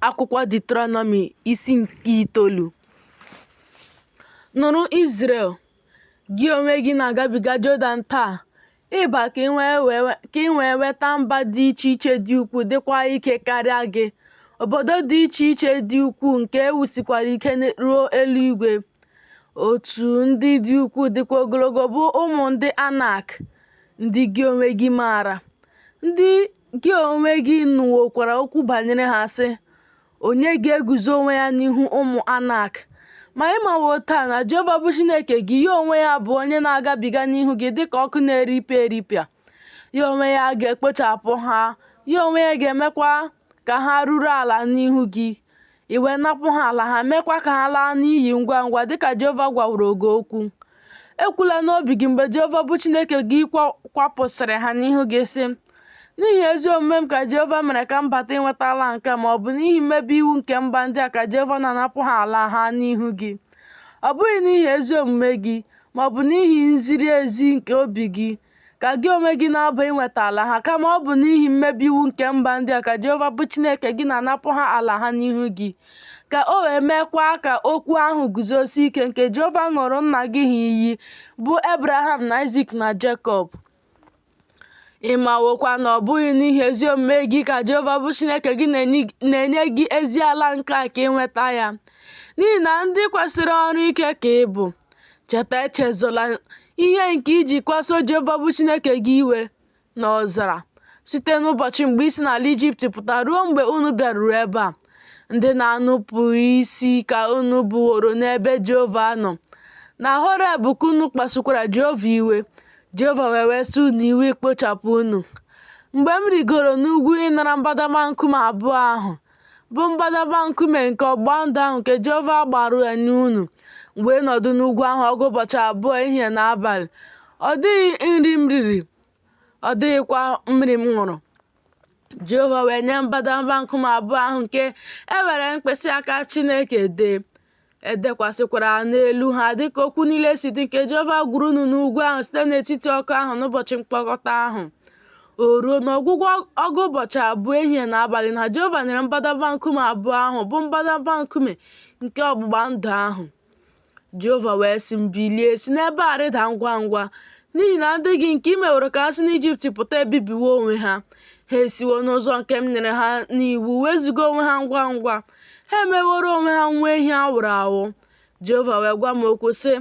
Akwụkwọ Diuteronomi isi nke itoolu Nụrụ Izrel, gị onwe gị na-agabiga Jọdan taa ịba ka ị wee nweta mba dị iche iche dị ukwuu dịkwa ike karịa gị, obodo dị iche iche dị ukwuu nke e wusikwara ike ruo eluigwe. Otu ndị dị ukwuu dịkwa ogologo bụ ụmụ ndị Anak, ndị gị onwe gị maara. Ndị Gị onwe gị nụwokwara okwu banyere ha sị, Onye ga-eguzo onwe ya n'ihu ụmụ Anak? Ma ị mawo taa na Jehova bụ Chineke gị, ya onwe ya bụ onye na-agabiga n'ihu gị dị ka ọkụ na-eripịa eripịa. Ya onwe ya ga-ekpochapụ ha, ya onwe ya ga-emekwa ka ha ruru ala n'ihu gị. i wee napụ ha ala ha meekwa ka ha laa n'iyi ngwa ngwa dịka Jehova gwaworo gị okwu. Ekwula n'obi gị mgbe Jehova bụ Chineke gị kwapụsịrị ha n'ihu gị sị, N'ihi ezi omume m ka Jehova mere ka m bata inweta ala nke a ma ọ bụ n'ihi mmebi iwu nke mba ndị a ka Jehova na-anapụ ha ala ha n'ihu gị. Ọ bụghị n'ihi ezi omume gị, ma ọ bụ n'ihi nziri ezi nke obi gị, ka gị onwe gị na-aba inweta ala ha, kama ọ bụ n'ihi mmebi iwu nke mba ndị a ka Jehova bụ Chineke gị na-anapụ ha ala ha n'ihu gị, ka o wee meekwa ka okwu ahụ guzosie ike nke Jehova ṅụrụ nna gị ha iyi, bụ Abraham na Aịzik na Jekọb. Ị mawokwa na ọ bụghị n'ihi ezi omume gị ka Jehova bụ Chineke gị na-enye gị ezi ala nke a ka ị nweta ya, n'ihi na ndị kwesịrị ọrụ ike ka ị bụ. Cheta, echezola, Ihe nke i ji kpasuo Jehova bụ Chineke gị iwe n'ọzara site n'ụbọchị mgbe i si n'ala Ijipt pụta ruo mgbe unu bịaruru ebe a. Ndị na-enupụ isi ka unu bụworo n'ebe Jehova nọ. Na Horeb ka unu kpasukwara Jehova iwe, Jehova wee wesa unu iwe ikpochapụ unu. Mgbe m rigoro n'ugwu ịnara mbadamba nkume abụọ ahụ, bụ mbadamba nkume nke ọgbụgba ndụ ahụ nke Jehova gbara ya na unu m wee nọdụ n'ugwu ahụ ọgụ ụbọchị abụọ ehihie na abalị ọ dịghị nri m riri ọ dịghịkwa mmiri m ṅụrụ Jehova wee nye m mbadamba nkume abụọ ahụ nke e were mkpịsị aka Chineke dee E dekwasịkwara n'elu ha dịka okwu niile si dị nke Jehova gwara unu n'ugwu ahụ site n'etiti ọkụ ahụ n'ụbọchị mkpọkọta ahụ. O ruo n'ọgwụgwụ ọgụ ụbọchị abụọ ehihie na abalị na Jehova nyere m mbadamba nkume abụọ ahụ bụ mbadamba nkume nke ọgbụgba ndụ ahụ. Jehova wee sị m, Bilie, si n'ebe a rịda ngwa ngwa, n'ihi na ndị gị nke i meworo ka ha si n'Ijipt pụta ebibiwo onwe ha. Ha esiwo n'ụzọ nke m nyere ha n'iwu wezụga onwe ha ngwa ngwa. ha emeworo onwe ha nwa ehi a wụrụ awụ jehova wee gwa m okwu sị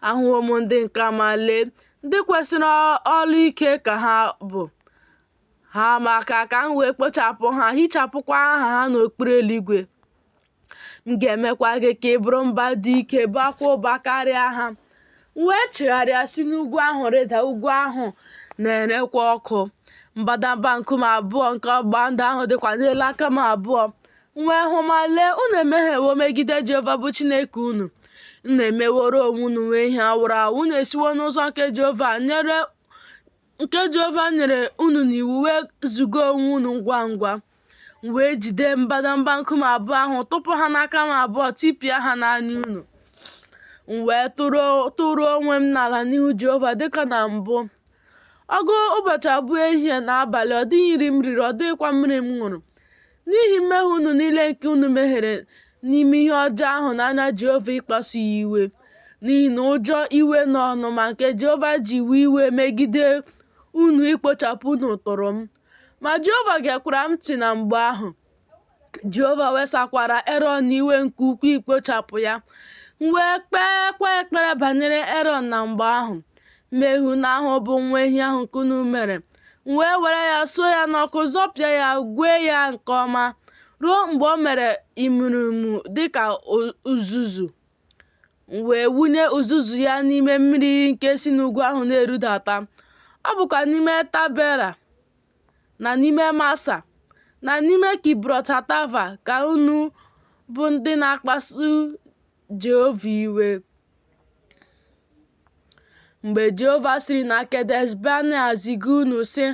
ahụwo m ndị nke a ma lee ndị kwesiri olu ike ka ha bụ haa m aka ka m wee kpochapụ ha hichapụkwa aha ha n'okpuru eluigwe m ga-emekwa gị ka ị bụrụ mba dị ike baakwa ụba karịa ha M wee chigharịa si n'ugwu ahụ rịda, ugwu ahụ na-erekwa ọkụ. Mbadamba nkume abụọ nke ọgbụgba ndụ ahụ dịkwa n'elu aka m abụọ. M wee hụ ma lee, unu emehiewo megide Jehova bụ Chineke unu. Unu emeworo onwe unu nwa ehi a wụrụ awụ, unu esiwo n'ụzọ nke Jehova nyere nke Jehova nyere unu n'iwu wezuga onwe unu ngwa ngwa m wee jide mbadamba nkume abụọ ahụ tụpụ ha n'aka m abụọ tipịa ha n'anya unu m wee tụrụ onwe m n'ala n'ihu Jehova dịka na mbụ ọgụ ụbọchị abụọ ehihie na abalị ọ dịghị nri m riri ọ dịghịkwa mmiri m ṅụrụ N'ihi mmehie unu niile nke unu mehiere n'ime ihe ọjọọ ahụ n'anya Jehova ịkpasu ya iwe, n'ihi na ụjọ iwe na ọnụma nke Jehova ji wee iwe megide unu ikpochapụ unu tụrụ m. Ma Jehova gekwara m ntị na mgbe ahụ. Jehova wesakwara Erọn iwe nke ukwuu ikpochapụ ya. M wee kpeekwa ekpere banyere Erọn na mgbe ahụ. Mmehie unu ahụ bụ nwa ehi ahụ nke unu mere m wee were ya suo ya n'ọkụ zọpịa ya gwee ya nke ọma ruo mgbe o mere imurimu dị ka uzuzu m wee wụnye uzuzu ya n'ime mmiri nke si n'ugwu ahụ na-erudata ọ bụkwa n'ime tabera na n'ime masa na n'ime kibrot hatava ka unu bụ ndị na-akpasu Jehova iwe. Mgbe Jehova siri na Kedesh Banea ziga unu, sị,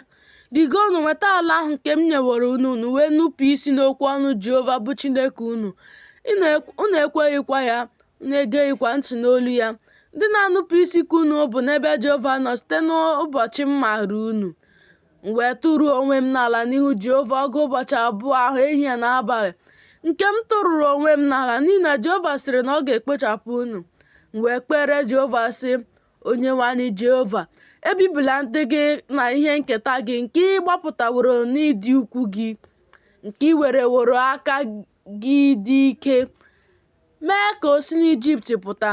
Rigonụ nweta ala ahụ nke m nyeworo unu, unu wee nupụ isi n'okwu ọnụ Jehova bụ Chineke unu, unu ekweghịkwa ya, unu egeghịkwa ntị n'olu ya. Ndị na-anụpụ isi ka unu bụ n'ebe Jehova nọ site n'ụbọchị m maara unu. M wee tụrụ onwe m n'ala n'ihu Jehova ọgụ ụbọchị abụọ ahụ ehihie na abalị nke m tụrụrụ onwe m n'ala n'ihi na Jehova sịrị na ọ ga-ekpochapụ unu m wee kpere Jehova sị Onyenwe anyị Jehova ebibila ndị gị na ihe nketa gị nke ị gbapụtaworo n'ịdị ukwu gị nke ị wereworo aka gị dị ike, mee ka o si n'Ijipt pụta.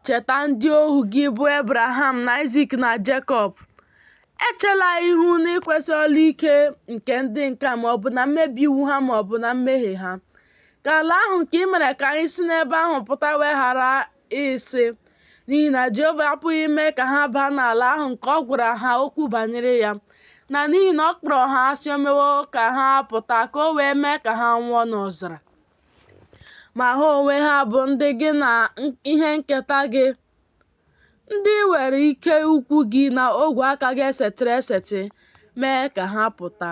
Cheta ndị ohu gị bụ Ebraham na Aịzik na Jekọb. Echela ihu n'ikwesi olu ike nke ndị nke a ma ọ bụ na mmebi iwu ha ma ọ bụ na mmehie ha. Ka ala ahụ nke i mere ka anyị si n'ebe ahụ pụta wee ghara ịsị, N'ihi na Jehova apụghị ime ka ha baa n'ala ahụ nke ọ gwara ha okwu banyere ya, na n'ihi na ọ kpọrọ ha asị o mewo ka ha pụta ka o wee mee ka ha nwụọ n'ọzara. Ma ha onwe ha bụ ndị gị na ihe nketa gị, ndị were ike ukwu gị na ogwe aka gị esetịrị esetị mee ka ha pụta.